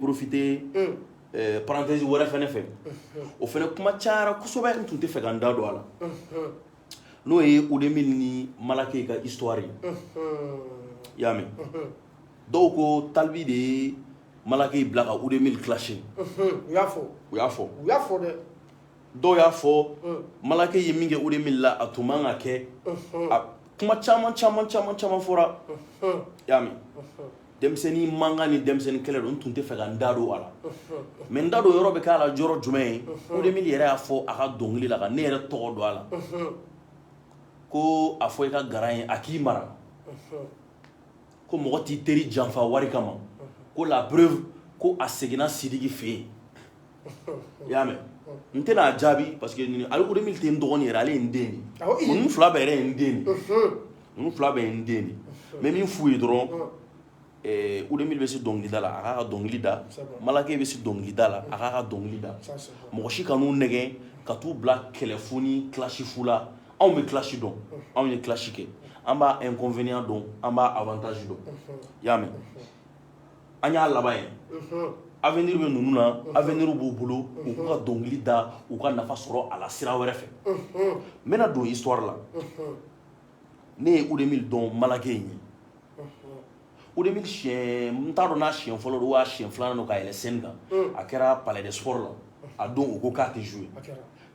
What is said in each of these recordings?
porofite parenthèse wɛrɛ fana fɛ o fana kuma cayara kosɛbɛ n tun tɛ fɛ ka n da don a la n'o ye Oudé Mill ni Malakey ka histoire ye i y'a mɛn dɔw ko Tal B de ye Malakey bila ka Oudé Mill clasher u y'a fɔ u y'a fɔ u y'a fɔ dɛ dɔw y'a fɔ Malakey ye min kɛ Oudé Mill la a tun man ka kɛ a kuma caman caman caman caman fɔra y'a mɛn denmisɛnnin mankan ni denmisɛnnin kɛlɛ don n tun tɛ fɛ ka n da don a la mais n da don yɔrɔ bɛ k'a la yɔrɔ jumɛn ye Oudé Mill yɛrɛ y'a fɔ a ka dɔnkili la ka ne yɛrɛ tɔgɔ don a la ko a fɔ i ka grand ye a k'i mara ko mɔgɔ t'i teri janfa wari kama ko la preuve ko a seginna sidiki fɛ yen i y'a mɛn n tɛna jaabi parce que nin ale ko min tɛ n dɔgɔnin yɛrɛ ale ye n den de Awɔ, i. ye ninnu fila bɛɛ yɛrɛ ye n den de ye ninnu fila bɛɛ ye n den de ye n bɛ min f'u ye dɔrɔn ɛɛ Oudé Mill bɛ se dɔnkilida la a k'a ka dɔnkili da C'est bon. Malakey bɛ se dɔnkilida la a k'a ka dɔnkili da Ça, c'est bon. mɔgɔ si kan'u nɛgɛn ka t'u bila kɛlɛfu ni clash fu la anw bɛ clash dɔn anw ye clash kɛ an b'a inconvénient dɔn an b'a avantage dɔn i y'a mɛn an y'a laban ye avenir bɛ ninnu na avenir b'u bolo u ka dɔnkili da u ka nafa sɔrɔ a la sira wɛrɛ fɛ n bɛna don histoire la ne ye Oudé Mill dɔn Malakey ɲɛ Oudé Mill siɲɛ n t'a dɔn n'a siɲɛ fɔlɔ don waa siɲɛ filanan don ka yɛlɛ scène kan a kɛra palais des sports la a don u ko k'a tɛ jouer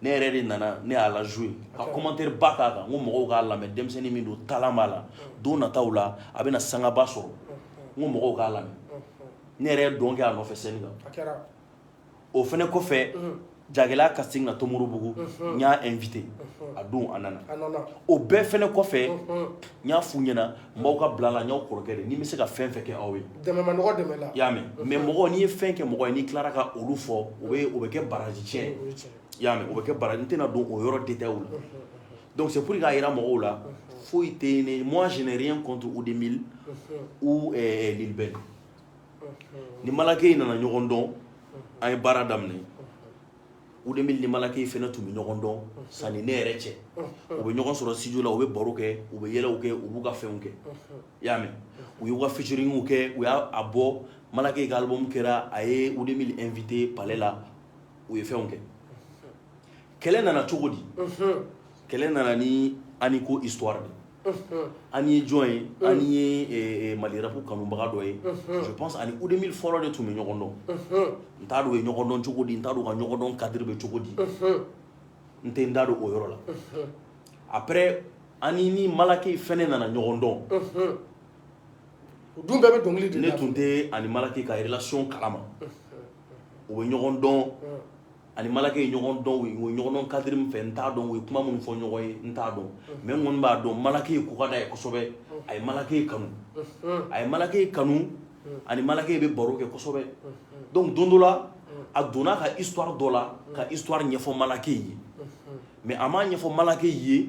ne yɛrɛ de nana ne y'a la jouer ka commentaire ba k'a kan n ko mɔgɔw k'a lamɛn denmisɛnnin min don talent b'a la don nataw la a bɛna sangaba sɔrɔ n ko mɔgɔw k'a lamɛn ne yɛrɛ ye dɔn kɛ a nɔfɛ scène kan o fɛnɛ kɔfɛ jagɛlɛya casting na tomikɔrɔbugu n y'a invité a don a nana o bɛɛ fɛnɛ kɔfɛ n y'a f'u ɲɛna mɔgɔw ka bila la n y'aw kɔrɔkɛ de ni n bɛ se ka fɛn fɛn kɛ aw ye y'a mɛn mais mɔgɔ n'i ye fɛn kɛ mɔgɔ n'i tilara ka olu fɔ o o bɛ kɛ baraji cɛn y'a o bɛ kɛ baraji n tɛna don o yɔrɔ détail la donc c'est k'a jira mɔgɔw la foyi tɛ ne moi j'ai rien contre Oudé Mill u bɛ ni Malakey nana ɲɔgɔn dɔn an ye baara daminɛ Oudé Mill ni Malakey fɛnɛ tun bɛ ɲɔgɔn dɔn sani ne yɛrɛ cɛ u bɛ ɲɔgɔn sɔrɔ studio la u bɛ baro kɛ u bɛ yɛlɛ kɛ u b'u ka fɛnw kɛ i y'a mɛn u y'u ka featuringw kɛ u y'a bɔ Malakey ka album kɛra a ye Oudé Mill invité palais la u ye fɛnw kɛ kɛlɛ nana cogo di kɛlɛ nana ni an ko histoire ani ye jɔn ye ani ye mali rapu kanubaga dɔ ye je pense ani wudemili fɔlɔ de tun bɛ ɲɔgɔn dɔn n t'a dɔn u ye ɲɔgɔn dɔn cogo di n t'a dɔn u ka ɲɔgɔndɔn kadiri bɛ cogo di n tɛ n da don o yɔrɔ la apre ani ni malake fana nana ɲɔgɔn dɔn dun bɛɛ bɛ dɔnkili di ne tun tɛ ani malake ka relasiyɔn kalama u bɛ ɲɔgɔn dɔn ani malake ye ɲɔgɔn dɔn u ye ɲɔgɔn dɔn kadiri min fɛ n t'a dɔn u ye kuma min fɔ ɲɔgɔn ye n t'a dɔn mɛ n kɔni b'a dɔn malake ko ka d'a ye kosɛbɛ a ye malake kanu a ye malake kanu ani malake bɛ baro kɛ kosɛbɛ donc don dɔ la a donna a ka istuwari dɔ la ka istuwari ɲɛfɔ malake ye mɛ a m'a ɲɛfɔ malake ye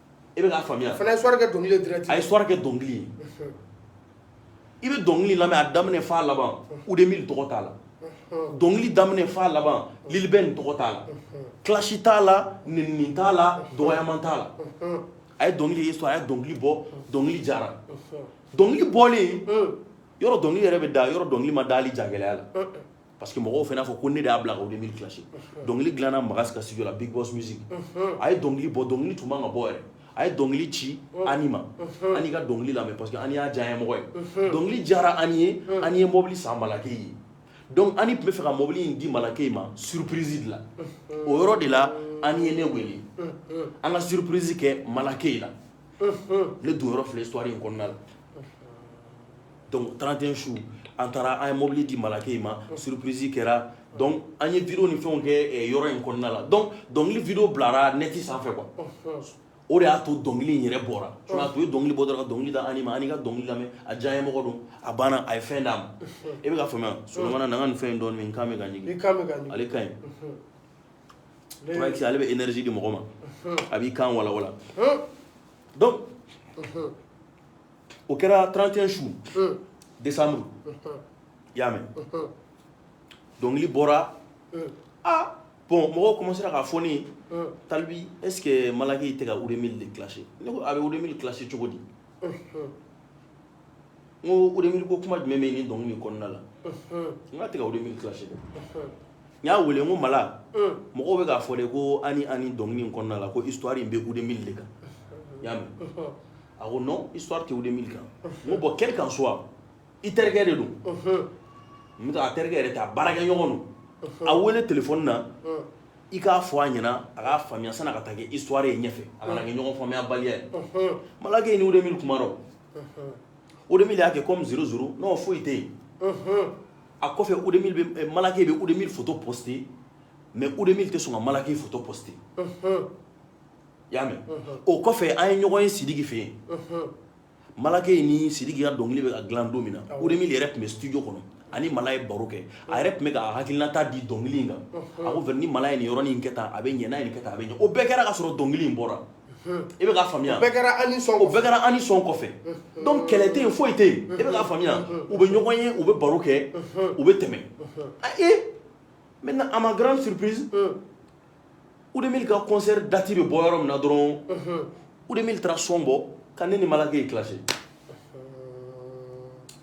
e b'a faamuya a ye istuwari kɛ dɔnkili a ye istuwari kɛ dɔnkili ye i bɛ dɔnkili lamɛn a daminɛ f'a laban wudemili tɔgɔ t'a la dɔnkili daminɛ f'a laban lil bɛn tɔgɔ t'a la kilasi t'a la nɛnini t'a la dɔgɔyaman t'a la a ye dɔnkili ye sɔrɔ a ye dɔnkili bɔ dɔnkili diyara dɔnkili bɔlen yɔrɔ dɔnkili yɛrɛ bɛ da yɔrɔ dɔnkili ma dali ja gɛlɛya la parce que mɔgɔw fana fɔ ko ne de y'a bila ka wudemili clash dɔnkili dilanna magas ka studio la big boss music a ye dɔnkili bɔ dɔnkili tun man ka bɔ yɛrɛ a ye dɔnkili ci ani ma ani ka dɔnkili lamɛn parce que ani y'a diya mɔgɔ ye dɔnkili diyara ani ye ani ye mɔbili san malake ye donc ani tun bɛ fɛ ka mɔbili in di malake ma surprise de la o yɔrɔ de la ani ye ne wele an ka surprise kɛ malake la ne don yɔrɔ filɛ histoire in kɔnɔna la Donc trente un su an taara an ye mobili di malake ma surprisi kɛra donc an ye wideyo ni fɛnw kɛ yɔrɔ in kɔnɔna la donc dɔnkili wideyo bilara nɛti sanfɛ kuwa o de y'a to dɔnkili in yɛrɛ bɔra tuma tun ye dɔnkili bɔ dɔrɔn dɔnkili d'an ma an ka dɔnkili lamɛn a diyanyemɔgɔ don a banna a ye fɛn d'a ma e bɛ faamuya so na nin fɛn dɔn min ka ale ka ɲi ale bɛ edariz di mɔgɔ ma a b'i kan wawa o kɛra trente un su desanburu i y'a mɛn dɔnkili bɔra aa bɔn mɔgɔw komansera k'a fɔ ne ye talibi ese malake tɛ ka wudemili de kilasi ne ko a bɛ wudemili kilasi cogo di n ko mi ko kuma jumɛn min ni dɔnkili kɔnɔna la n k'a tɛ ka wudemili kilasi dɛ n y'a wele ko mala mɔgɔw bɛ k'a fɔ de ko ani an dɔnkili kɔnɔna la ko istuwari in bɛ wudemili de kan y'a mɛn A ko non histoire tɛ Wudemili kan n ko bon quel qu'en soit i terikɛ de don même n'a terikɛ yɛrɛ tɛ a baarakɛ ɲɔgɔn don a wele téléphone na i k'a fɔ a ɲɛna a k'a faamuya sani a ka taa kɛ histoire ye ɲɛfɛ a kana kɛ ɲɔgɔn faamuya baliya ye Malake ni Wudemili kumana o Wudemili y'a kɛ comme zuru zuru non foyi tɛ yen a kɔfɛ Wudemili bɛ Malake bɛ Wudemili photo poster mais Wudemili tɛ sɔn ka Malake photo poster y'a mɛn o kɔfɛ an ye ɲɔgɔn ye sidiki fɛ yen Malakey ni sidiki ka dɔnkili bɛ ka dilan don min na Oudé Mill yɛrɛ tun bɛ studio kɔnɔ a ni mala ye baro kɛ a yɛrɛ tun bɛ ka hakilinata di dɔnkili in kan a ko ni mala ye nin yɔrɔ in kɛ tan a bɛ ɲɛ n'a ye nin kɛ tan a bɛ ɲɛ o bɛɛ kɛra ka sɔrɔ dɔnkili in bɔra i bɛ k'a faamuya bɛɛ kɛra an ni sɔn o bɛɛ kɛra an ni sɔn kɔfɛ donc kɛlɛ tɛ yen foyi tɛ yen i bɛ k'a faamuya u bɛ ɲɔgɔn ye u bɛ baro kɛ u bɛ tɛmɛ a ee maintenant à ma grande surprise Oudé Mill ka concert date bɛ bɔ yɔrɔ min na dɔrɔn Oudé Mill taara son bɔ ka ne ni Malakey clash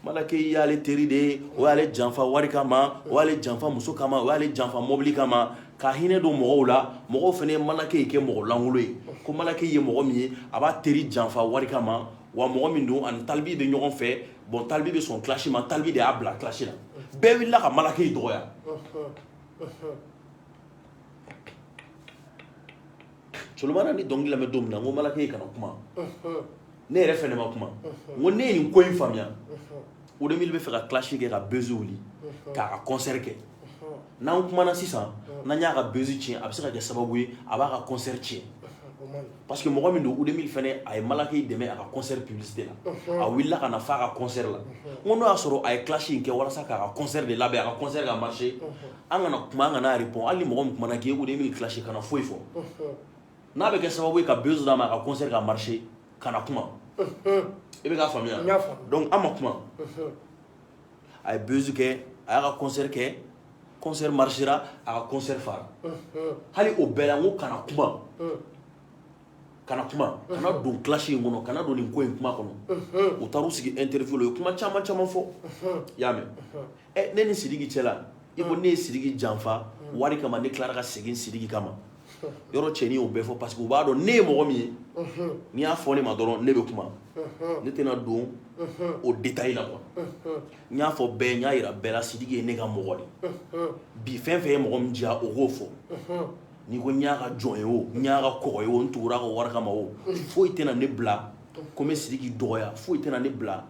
Malakey y'ale teri de ye o y'ale janfa wari kama o y'ale janfa muso kama o y'ale janfa mɔbili kama ka hinɛ don mɔgɔw la mɔgɔw fana ye Malakey kɛ mɔgɔlankolon ye ko Malakey ye mɔgɔ min ye a b'a teri janfa wari kama wa mɔgɔ min don a ni Tal B bɛ ɲɔgɔn fɛ bon Tal B bɛ sɔn clash ma Tal B de y'a bila clash la bɛɛ wulila ka Malakey dɔgɔ solomana n ye dɔnkili lamɛn don min na n ko Malakey i kana kuma ne yɛrɛ fɛnɛ ma kuma n ko ne ye nin ko in faamuya Oudé bɛ fɛ ka clash kɛ ka buzz wuli k'a ka concert kɛ n'an kumana sisan n'an y'a ka buzz tiɲɛ a bɛ se ka kɛ sababu ye a b'a ka concert tiɲɛ parce que mɔgɔ min don Oudé Mill fɛnɛ a ye Malakey dɛmɛ a ka concert publicité la a wulila ka na fa a ka concert la n ko n'o y'a sɔrɔ a ye clash in kɛ walasa k'a ka concert de labɛn a ka concert ka marcher an kana kuma an kana a répond hali ni mɔgɔ min kumana k'i ye k'Oudé Mill clash kana foyi fɔ n'a bɛ kɛ sababu ye ka buzz d'a ma a ka concert ka marcher kana kuma i bɛ k'a faamuya donc an ma kuma a ye buzz kɛ a y'a ka concert kɛ concert marchera a ka concert fara hali o bɛɛ la n ko kana kuma kana kuma kana don clash in kɔnɔ kana don nin ko in kuma kɔnɔ u taara u sigi interview la u ye kuma caman caman fɔ i y'a mɛn ɛ ne ni sidiki cɛla i ko ne ye sidiki janfa wari kama ne tilara ka segin sidiki kama yɔrɔ cɛnin y'o bɛɛ fɔ parce que u b'a dɔn ne ye mɔgɔ min ye n'i y'a fɔ ne ma dɔrɔn ne bɛ kuma ne tɛna don o détail la quoi n y'a fɔ bɛɛ n y'a yira bɛɛ la sidiki ye ne ka mɔgɔ de bi fɛn o fɛn ye mɔgɔ min diya o k'o fɔ n'i ko n y'a ka jɔn ye o n y'a ka kɔgɔ ye o n tugura a ka wari kama o foyi tɛna ne bila ko n bɛ Sidiki dɔgɔya foyi tɛna ne bila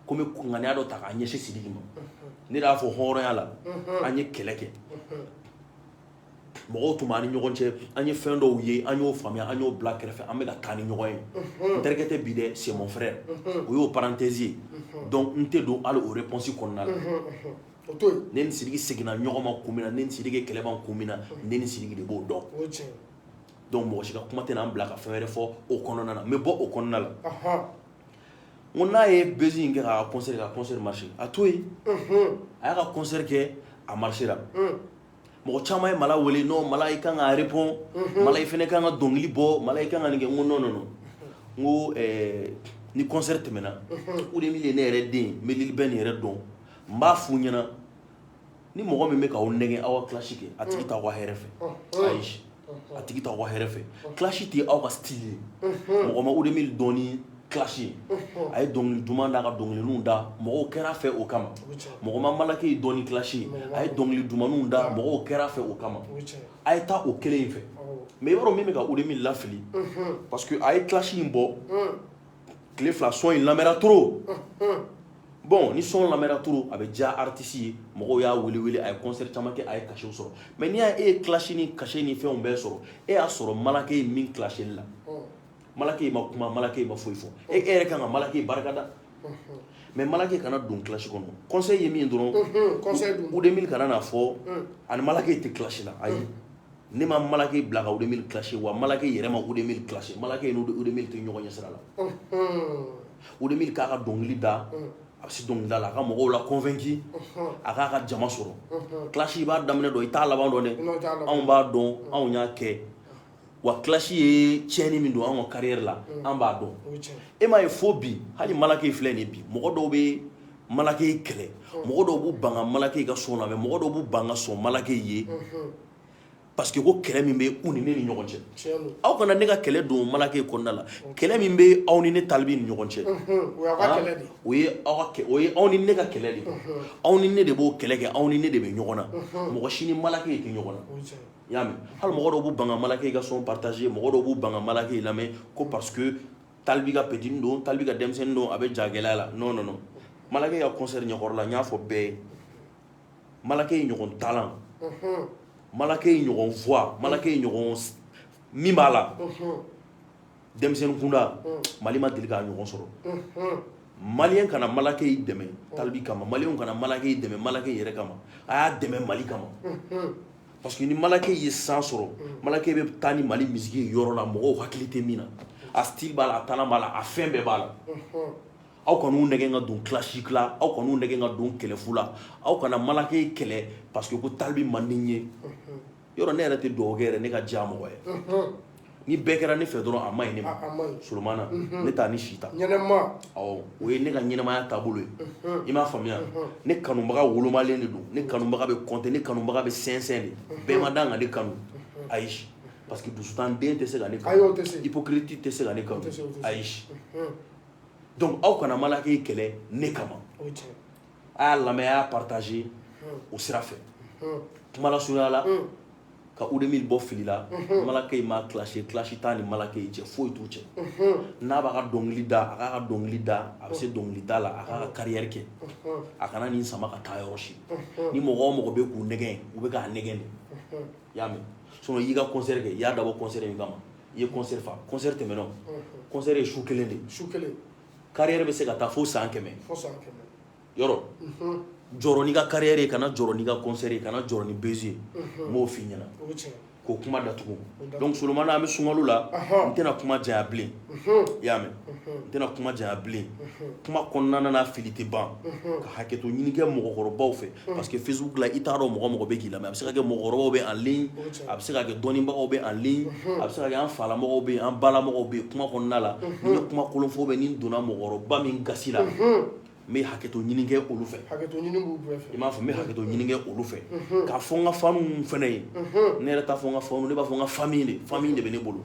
ko n bɛ kunkanniya dɔ ta k'a ɲɛsin Sidiki ma ne de y'a fɔ hɔrɔnya la an ye kɛlɛ kɛ mɔgɔw tun b'an ni ɲɔgɔn cɛ an ye fɛn dɔw ye an y'o faamuya an y'o bila kɛrɛfɛ an bɛ ka taa ni ɲɔgɔn ye n terikɛ tɛ bi dɛ c'est mon frère o y'o parenthèse ye donc n tɛ don hali o réponse kɔnɔna la O to yen ne ni Sidiki seginna ɲɔgɔn ma kun min na ne ni Sidiki ye kɛlɛ ban kun min na ne ni Sidiki de b'o dɔn o ye tiɲɛ ye donc mɔgɔ si ka kuma tɛna n bila ka fɛn wɛrɛ fɔ o kɔnɔna na n bɛ bɔ o kɔnɔna la ɔnhɔn n ko n'a ye buzz in kɛ k'a ka concert kɛ a ka concert marcher a to yen unhun a y'a ka concert kɛ a marchera un mɔgɔ caman ye Mala wele non Mala i ka kan ka répond unhun Mala i fana ka kan ka dɔnkili bɔ Mala i ka kan ka nin kɛ n ko non non non n ko ɛɛ ni concert tɛmɛna unhun Oudé Mill ye ne yɛrɛ den ye n bɛ Lil Ben yɛrɛ dɔn n b'a f'u ɲɛna ni mɔgɔ min bɛ k'aw nɛgɛn aw ka clash kɛ a tigi t'aw ka hɛrɛ fɛ ayi a tigi t'aw ka hɛrɛ fɛ clash tɛ aw ka style ye mɔgɔ ma Oudé Mill dɔn ni clash ye a ye dɔnkili duman d'a ka dɔnkilininw da mɔgɔw kɛr'a fɛ o kama mɔgɔ ma Malakey dɔn ni clash ye a ye dɔnkili dumanninw da mɔgɔw kɛr'a fɛ o kama a ye taa o kelen in fɛ mais yɔrɔ min bɛ ka Oudé Mill lafili parce que a ye clash in bɔ tile fila son in lamɛnra trop bon ni son lamɛnra trop a bɛ diya artiste ye mɔgɔ y'a wele wele a ye concert caman kɛ a ye cachet sɔrɔ mais n'i y' e ye clash ni cachet ni fɛnw bɛɛ sɔrɔ e y'a sɔrɔ Malakey ye min clash la Malakey ma kuma Malakey ma foyi fɔ e e yɛrɛ ka kan ka Malakey barika da mais Malakey kana don clash kɔnɔ concert tɛmɛn dɔrɔn Oudé Mill kana n'a fɔ a ni Malakey tɛ clash la ayi ne ma Malakey bila ka Oudé Mill clash wa Malakey yɛrɛ ma Oudé Mill clash Malakey ye Oudé Mill to ɲɔgɔn ɲɛ sira la Oudé Mill k'a ka dɔnkili da a bɛ se dɔnkilida la a ka mɔgɔw la convaincre a k'a ka jama sɔrɔ clash i b'a daminɛ dɔn i t'a laban dɔn dɛ anw b'a dɔn anw y'a kɛ wa clash ye tiɲɛni min don anw ka carrière la an b'a dɔn e m'a ye fo bi hali Malakey filɛ nin bi mɔgɔ dɔw bɛ Malakey kɛlɛ mɔgɔ dɔw b'u ban ka Malakey ka son lamɛn mɔgɔ dɔw b'u ban ka sɔn Malakey ye Parce que ko kɛlɛ min bɛ u ni ne ni ɲɔgɔn cɛ aw kana ne ka kɛlɛ don Malakey kɔnɔnada la kɛlɛ min bɛ aw ni ne Tal B ni ɲɔgɔn cɛ aw ni ne ka kɛlɛ de aw ni ne de b'o kɛlɛ kɛ aw ni ne de bɛ ɲɔgɔn na mɔgɔ si ni Malakey ye kɛ ɲɔgɔn y'a mɛ hali mɔgɔ bɛ ban Malakey ka son partager mɔgɔ dɔw b'u ban Malakey lamɛn ko parce que Tal B ka petit don Tal B ka denmisɛnnin don a bɛ ja gɛlɛya la non non Malakey ka concert ɲɛkɔrɔ la n y'a fɔ bɛɛ ye Malakey ɲɔgɔn talent Malakey ɲɔgɔn voix Malakey ɲɔgɔn min b'a la denmisɛnnin kunda Mali ma deli k'a ɲɔgɔn sɔrɔ Mali kana Malakey dɛmɛ Tal B kama Mali kana Malakey dɛmɛ Malakey yɛrɛ kama a y'a dɛmɛ Mali kama parce que ni Malakey ye chance sɔrɔ Malakey bɛ taa ni Mali musique ye yɔrɔ la mɔgɔw hakili tɛ min na a b'a la a fɛn bɛɛ b'a la aw kana u nɛgɛn ka don clash la aw kana u nɛgɛn ka don kɛlɛfu la aw kana Malake kɛlɛ paseke ko tali bɛ mande ye yɔrɔ ne yɛrɛ tɛ dɔgɔ yɛrɛ ne ka diya mɔgɔ ye ni bɛɛ kɛra ne fɛ dɔrɔn a ma ɲi ne Solomana ne taa ni sita o ye ne ka ɲɛnɛmaya taabolo ye i m'a faamuya ne kanubaga wolomalen de don ne kanubaga bɛ kɔnte ne kanubaga bɛ sɛnsɛn de bɛɛ ma dan ka ne kanu ayi parce que dusutan den tɛ se ka ne hypocrite tɛ se ka ne kanu ayi dɔnku aw kana Malake kɛlɛ ne kama a y'a lamɛn a y'a pataze o sira fɛ kumasoyala ka u de min bɔ fili la Malake ma clash si t'an ni Malake cɛ foyi t'an cɛ n'a b'a ka dɔnkili da a k'a ka dɔnkili da a bɛ se dɔnkili da la a k'a ka carrière kɛ a kana nin sama ka taa yɔrɔ si ni mɔgɔ o mɔgɔ bɛ k'u nɛgɛn u bɛ k'a nɛgɛn i y'a mɛn sinon i y'i ka concert kɛ i y'a dabɔ concert nin kama i ye concert fa concert tɛmɛna unhun concert ye su kelen de ye su kelen carrière bɛ se ka taa fo san kɛmɛ fo san kɛmɛ yɔrɔ unhun jɔrɔ n'i ka carrière ye kana jɔrɔ n'i ka concert ye kana jɔrɔ ni buzz ye unhun n b'o f'i ɲɛna o ye tiɲɛ ye k'o kuma datugu donc Solomana an bɛ sunkalo la anhan n tɛna kuma janya bilen i y'a mɛn n tɛna kuma janya bilen kuma kɔnɔna na fili tɛ ban ka hakɛto ɲini kɛ mɔgɔkɔrɔbaw fɛ parce que facebook la i t'a dɔn mɔgɔ mɔgɔ bɛ k'i lamɛn a bɛ se ka kɛ mɔgɔkɔrɔbaw bɛ en ligne a bɛ se ka kɛ dɔnnibagaw bɛ en ligne a bɛ se ka kɛ an falamɔgɔw bɛ yen an balamɔgɔw bɛ yen kuma kɔnɔna la n'i ye kuma kolon fɔ bɛ ni n donna mɔgɔkɔrɔba min gasi la n bɛ hakɛto ɲini kɛ olu fɛ i m'a fɔ n bɛ hakɛto ɲini kɛ olu fɛ k'a fɔ n ka fanw fana ye ne yɛrɛ t'a fɔ n ka fanw ne b'a fɔ n ka famille de famille de bɛ ne bolo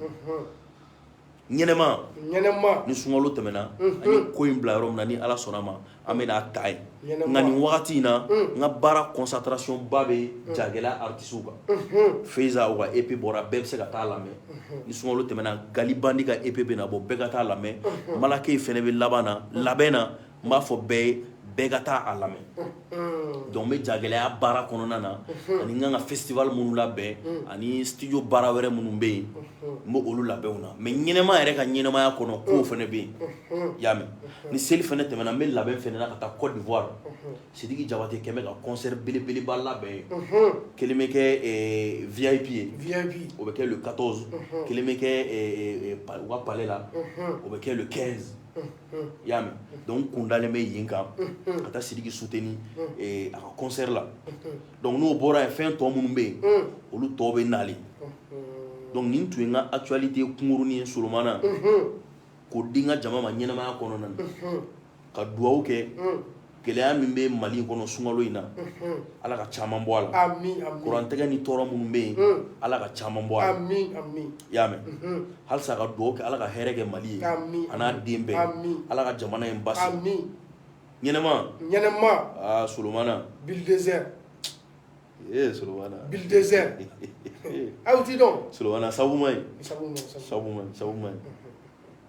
ɲɛnɛma ɲɛnɛma ni sunkalo tɛmɛna unhun an ye ko in bila yɔrɔ min na ni Ala sɔnna o ma an bɛna a ta yen ɲɛnɛma nka nin wagati in na un n ka baara concentration ba bɛ jagɛlɛya artistes kan unhun Faiza o ka EP bɔra bɛɛ bɛ se ka taa a lamɛn unhun ni sunkalo tɛmɛna Gali Bandi ka EP bɛna bɔ bɛɛ ka taa a lamɛn unhun Malake fana bɛ laban na labɛn na n b'a fɔ bɛɛ ye bɛɛ ka taa a lamɛn unhun dɔnku n bɛ jagɛlɛya baara kɔnɔna na ani n kan ka festival minnu labɛn ani studio baara wɛrɛ minnu bɛ yen n b' olu labɛnw na mɛ ɲɛnɛma yɛrɛ ka ɲɛnɛmaya kɔnɔkow fana bɛ yen y'a mɛn ni seli fana tɛmɛna n bɛ labɛn fana na ka taa Côte d'Ivoire sidiki jabate quand même bɛ ka concert belebeleba labɛn yen kelen bɛ kɛ vip ye o bɛ kɛ le quatorze kelen bɛ kɛ u ka palais la o bɛ kɛ le quinze i y'a mɛn donc kun dalen bɛ yen n kan ka taa Sidiki soutenir a ka concert la donc n'o bɔra yen fɛn tɔ minnu bɛ yen olu tɔw bɛ na le donc nin tun ye n ka actualité kunkurunin ye solomana k'o di n ka jama ma ɲɛnamaya kɔnɔna na n ka dugawu kɛ gɛlɛya min bɛ mali kɔnɔ sunkalo in na ala ka caman bɔ a la kurantigɛ ni tɔɔrɔ minnu bɛ yen ala ka caman bɔ a y'a mɛn halisa ka dugawu kɛ ala ka hɛrɛ kɛ mali ye an'a den bɛɛ ala ka jamana in ba ɲɛnɛmaɛnɛma solonmana aw tɛ dɔn solon sabu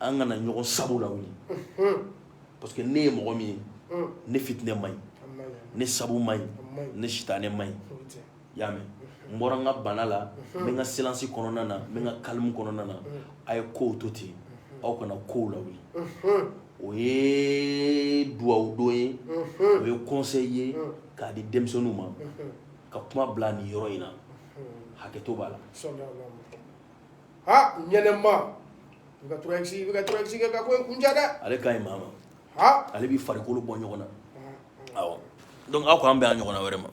an kana ɲɔgɔn sago lawuli parce que ne ye mɔgɔ min ye ne fitinɛ man ɲi ne sabu man ɲi ne sitanɛ man ɲi y'a mɛn n bɔra n ka bana la n ka silansi kɔnɔna na n ka kalimu kɔnɔna na a ye kow to ten aw kana kow lawuli o ye duwawu don ye o ye conseil ye k'a di denmisɛnninw ma ka kuma bila nin yɔrɔ in na hakɛto b'a la ha ɲɛnɛma i ka tora i ka tora kɛ ka ko n kun dɛ ale ka ɲi maa ma ale bɛ farikolo bɔ ɲɔgɔn na donc aw k' an bɛ ɲɔgɔn na vraiment